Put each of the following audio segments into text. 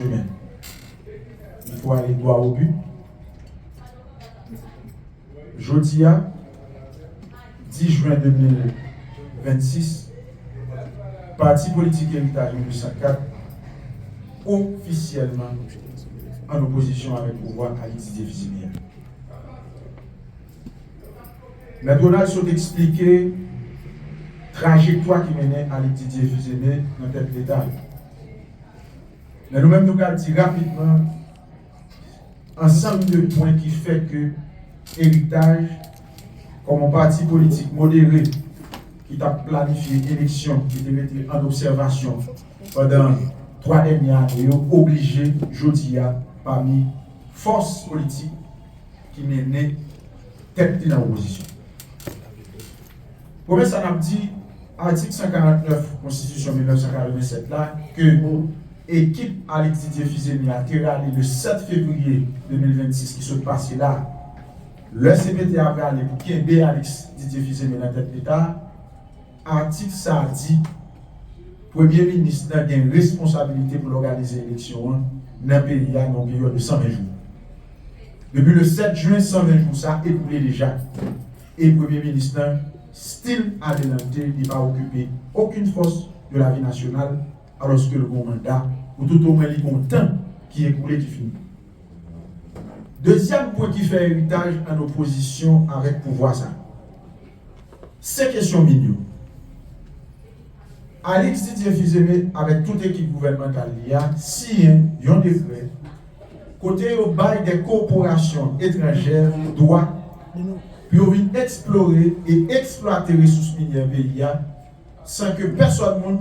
Amen. Il faut aller droit au but. Jodi a, 10 jwen 2026, pati politik Eritaj 1904 ofisyèlman an opozisyon avèk pouvwa Ayiti defini a. Mèt Ronald sot eksplike trajektwa ki mennen Alix Didier Fils-Aimé nan tèt Leta. Men nou menm nou pral di rapidman ansanm de pwen ki fè ke Eritaj kòm yon pati politik modere ki t ap planifye eleksyon ki te mete an obsèvasyon pandan 3 dènye ane yo oblije jodi a pami fòs politik ki mennen tèt li nan opozisyon. Premye sa n ap di, atik 149 konstitisyon 1987 la ke ekip Alix Didier Fils-Aimé a te rale le 7 fevriye 2026 ki sot pase la, lè cpt a prale pou kenbe Alix Didier Fils-Aimé nan tèt Leta, atik sa a di Premye Minis nan gen responsabilite pou l òganize eleksyon an nan peyi a nan yon peryòd de 120 jou. Depi le 7 jen, 120 jou sa a ekoule deja. E premye minis lan still adelante li pa okipe okin fòs de lavi nasyonal alòske l gon manda pou tout omwen li gon tan ki ekoule ki fini. Dezyèm pwen ki fè eritaj an opozisyon avèk pouvwa sa se kesyon min yo. Alix Didier Fils-Aimé avèk tout ekip gouvènmantal li a siyen yon dekrè kote yo bay de korporasyon etranjè dwa pou yo vin eksplore e eksplwate resous minyè peyi a san ke pèsòn moun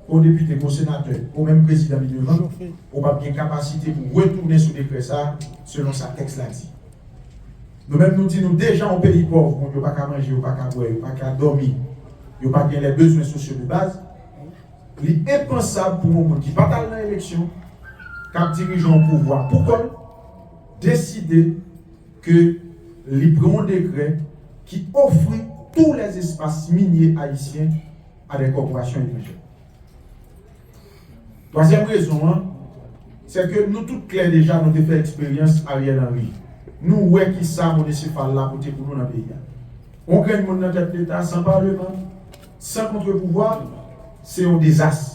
o depite ko senatè o menm prezidan li devan o pap gen kapasite pou retounen sou dekrè sa selon sa tèks la di. Nou menm nou di nou deja yon peyi pòv moun yo paka manje yo paka bwè yo paka dòmi yo pa gen lè bezwen sosyo de baz. Li enpansab pou yon moun ki pa t al nan eleksyon, k ap dirije yon pouvwa pou kò l, deside ke li pran yon dekrè ki ofri tou lè espas minye ayisyen a dè kòporasyon etranjè. Twazyèm rezon an, sè ke nou tout klè deja nou te fè eksperyans Ariel Henry. Nou wè kisa monesifal la pote pou nou nan peyi a. Yon grenn moun nan tèt Leta, san Parleman, San kontre pouvwa, se yon dezas.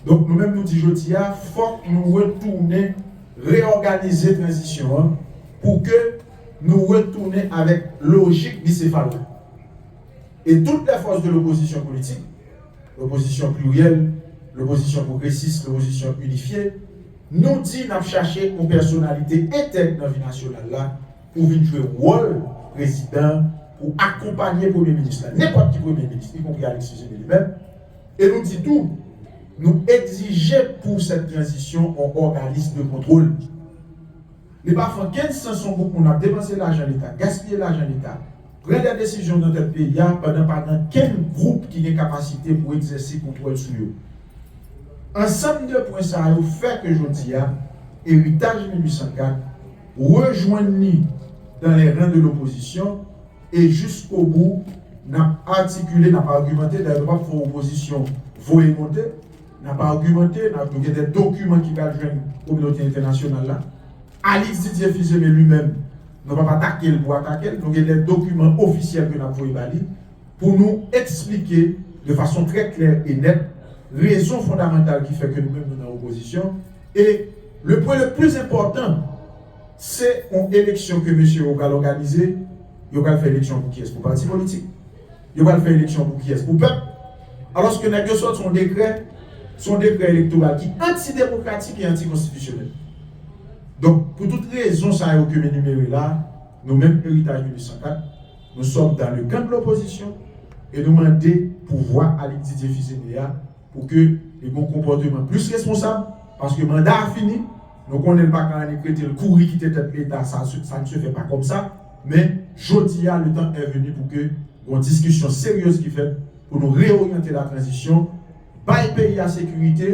Donk nou menm nou di jodi a, fòk nou retounen reyòganize tranzisyon an pou ke nou retounen avèk lojik bisefal la. E tout lè fòs de lopozisyon politik, lopozisyon pliryèl, lopozisyon pwogresis, lopozisyon inifye, nou di n ap chache yon pèsonalite entèg nan vi nasyonal la, pou vin jwe wòl prezidan pou akonpanye premye minis la, nenpòt ki premye minis, ikonpri Alexis Jene li menm, e nou di tou, nou egzije pou sèt tranzisyon on òganis de kontwol. Li pa fè okenn sans on gwoup moun ap depanse lajan leta, gaspiye lajan leta, pran dè desizyon nan tèt peyi a pandan pa gen okenn gwoup ki gen kapasite pou egzèse kontwòl sou yo. Ansanm de pwen sa yo fè ke jodi a, eritaj 1804, Rejwenn ni dans les rangs de l'opposition e jiskobou nap atikile, nap argumante, dayè nou pap fè opozisyon voye monte, nap argumante, nap nou gen dè dokiman ki pral jwenn kominote entènasyonal la, Alix Didier Fils-Aimé li menm nou pap atakel pou atakel, nou gen dè dokiman ofisyèl ke nap voye ba li pou nou eksplike de fason trè klè e nèt rezon fondamantal ki fè ke nou menm nou nan opozisyon. E le pwen le pli enpòtan, se yon eleksyon ke mesye yo pral òganize, yo pral fè eleksyon pou kiyès? Pou pati politik? Yo pral fè eleksyon pou kiyès? Pou pèp? Alòske nèg yo sòti yon dekrè, se yon dekrè elektoral ki antidemokratik e antikonstitisyonèl. Donk, pou tout rezon sa yo ke m enimere la, nou menm Eritaj 1804, nou sòm dan le kan de lopozisyon e nou mande pouvwa a Luc Didier Fils-Aimé a Pou ke li gon konpòteman plis responsab, paske manda a fini, nou konnen l pa ka annik rete l kouri kite tèt leta, sa n se fè pa kòmsa, men jodi a le tan è veni pou ke gon diskisyon seryez ki fèt pou nou reoryante la tranzisyon, bay peyi a sekirite,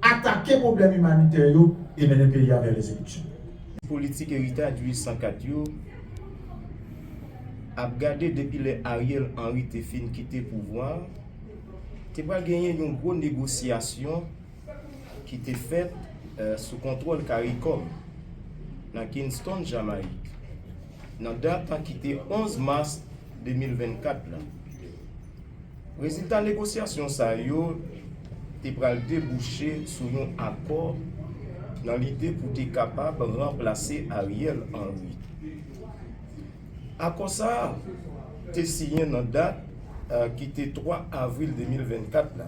atake pwoblèm imanitè yo e mennen peyi a vè les eleksyon. Politik eritaj 804 yo ap gade depi lè Ariel Henry te fin kite pouvwa a, te pral genyen yon gwo negosyasyon ki te fèt sou kontwòl caricom nan Kingston Jamayik nan dat ki te 11 mas 2024 la. Rezilta negosyasyon sa yo te pral debouche sou yon akò nan lide pou te kapab ranplase Ariel Henry. Akò sa a te siyen nan dat ki te 3 avril 2024 la,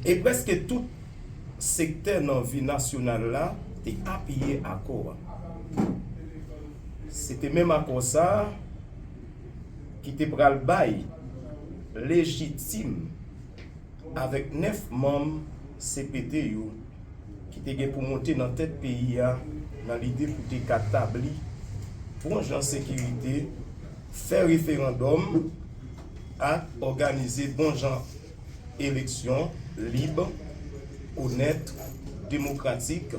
e prèske tout sektè nan vi nasyonal la te apiye akò a. Se te menm akò sa a ki te pral bay lejitim avèk 9 manm cpt yo. ki te gen pou monte nan tèt peyi a nan lide pou te ka tabli bon jan sekirite, fè referandòm ak òganize bon jan eleksyon lib, onèt, demokratik,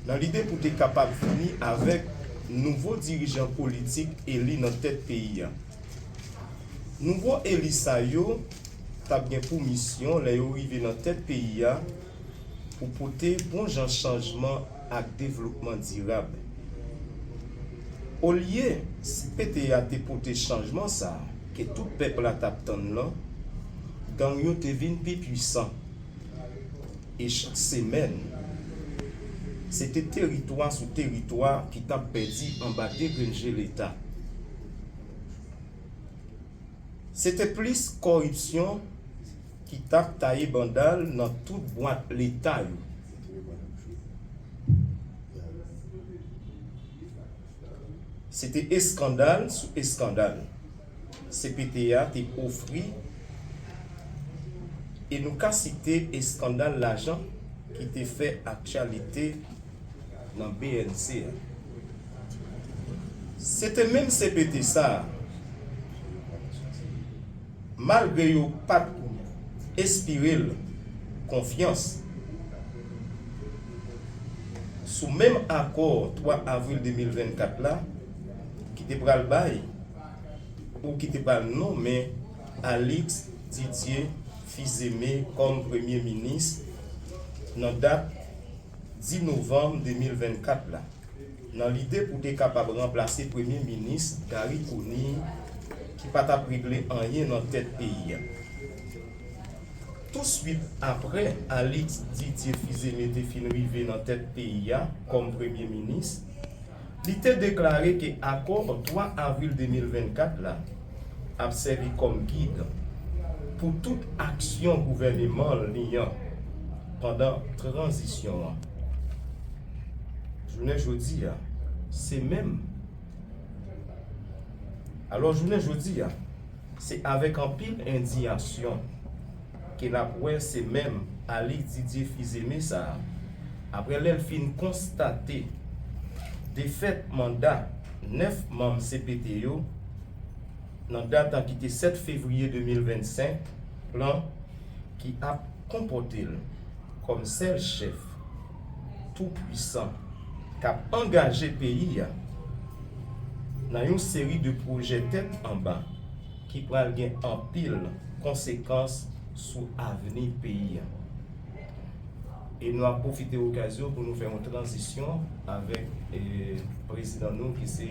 nan lide pou te kapab vini avèk nouvo dirijan politik eli nan tèt peyi a. Nouvo eli sa yo t ap gen pou misyon lè yo rive nan tèt peyi a pou pote bon jan chanjman ak devlopman dirab. Olye si PTA te pote chanjman sa ke tout pèp la t ap tann lan, gang yo te vin pi pwisan e chak semèn se te teritwa sou teritwa ki t ap pèdi anba degrenn je leta. Se te plis kòripsyon ki t ap taye banda l nan tout bwat Leta yo. Se te eskandal sou eskandal cpt a te ofri e nou ka site eskandal lajan ki te fè aktyalite nan bnc a. Se te menm cpt sa, malgre yo pa t enspire l konfyans, sou menm akò 3 avril 2024 la, ki te pral bay ou ki te pral nonmen Alix Didier Fils-Aimé kòm premye minis nan dat. 10 novanm 2024 la, nan lide pou te kapab ranplase premye minis Garry Conille ki pa t ap regle anyen nan tèt peyi a. Tousuit aprè Alix Didier Fils-Aimé te fin rive nan tèt peyi a kòm premye minis, Li te deklare ke akò 3 avril 2024 la ap sèvi kòm gid pou tout aksyon gouvèneman li an pandan tranzisyon an. Jounen jodi a, se menm. Alò jounen jodi a, se avèk anpil endiyasyon. ke lap wè se menm Alix Didier Fils-Aimé sa a, aprè lè l fin konstate defèt manda 9 manm cpt yo nan dat an ki te 7 fevriye 2025, plan ki ap konpòte l kòm sèl chèf tou pwisan kap angaje peyi a nan yon seri de pwojè tèt anba. ki pral gen anpil konsekans sou avni peyi a. E nou ap pwofite okazyon pou nou fè yon tranzisyon avèk prezidan nou ki se.